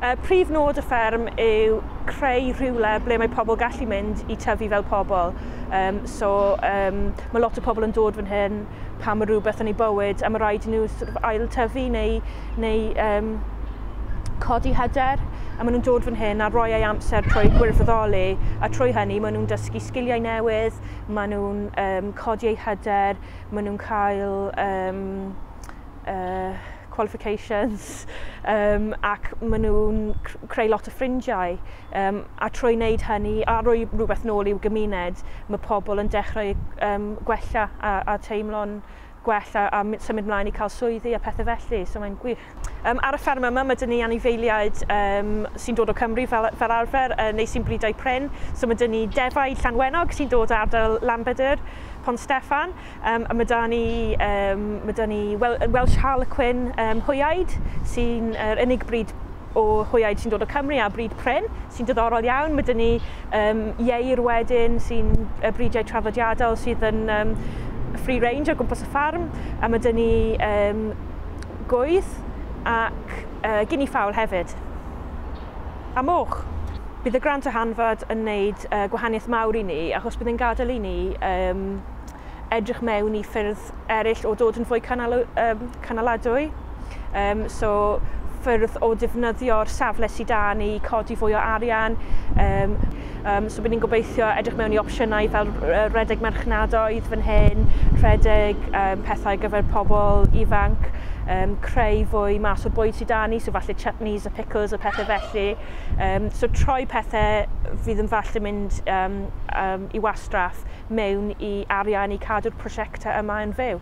Uh, prif nod y fferm yw creu rhywle ble mae pobl gallu mynd i tyfu fel pobl. Um, so um, mae lot o pobl yn dod fan hyn, pa mor rhywbeth yn ei bywyd a mae rhaid i nhw sort of ail-tyfu neu, neu um, codi hyder a maen nhw'n dod fan hyn a rhoi ei amser trwy gwirfoddoli a trwy hynny maen nhw'n dysgu sgiliau newydd, maen nhw'n um, codi eu hyder, maen nhw'n cael um, uh, qualifications um, ac maen nhw'n creu lot o ffrindiau. Yym, a trwy wneud hynny a rhoi rhywbeth nôl i'w gymuned, mae pobl yn dechrau yym, gwella a, a teimlo'n gwell a, a symud mlaen i cael swyddi a pethau felly, so mae'n gwych. Yym, ar y fferm yma mae 'da ni anifeiliaid yym, sy'n dod o Cymru fel, fel arfer, yy, neu sy'n bryd a'u prin, so mae 'da ni defaid Llanwenog sy'n dod o ardal Lanbedr, Pont Steffan, Yym, a ma' 'da ni, yym, ma' 'da ni wel- yy Welsh Harlequin yym hwyaid sy'n yr unig brid o hwyaid sy'n dod o Cymru a brid prin sy'n diddorol iawn. Ma' 'da ni yym ieir wedyn sy'n yy bridiau traddodiadol sydd yn yym free range o gwmpas y ffarm a ma' 'da ni yym gwydd ac yy gini ffaul hefyd. A moch! Bydd y grant ehangfad yn neud yy gwahaniaeth mawr i ni achos bydd e'n gadel i ni yym edrych mewn i ffyrdd eraill o dod yn fwy canal, um, canaladwy. Um, so ffyrdd o defnyddio'r safle sydd da ni, codi fwy o arian. Um, um, so byddwn ni'n gobeithio edrych mewn i opsiynau fel rhedeg merchnadoedd fan hyn, rhedeg um, pethau gyfer pobl ifanc, um, creu fwy mas o bwyd sydd da ni, so falle chutneys a pickles a pethau felly. Um, so troi pethau fydd yn falle mynd um, um, i wastraff mewn i arian i cadw'r prosiectau yma yn fyw.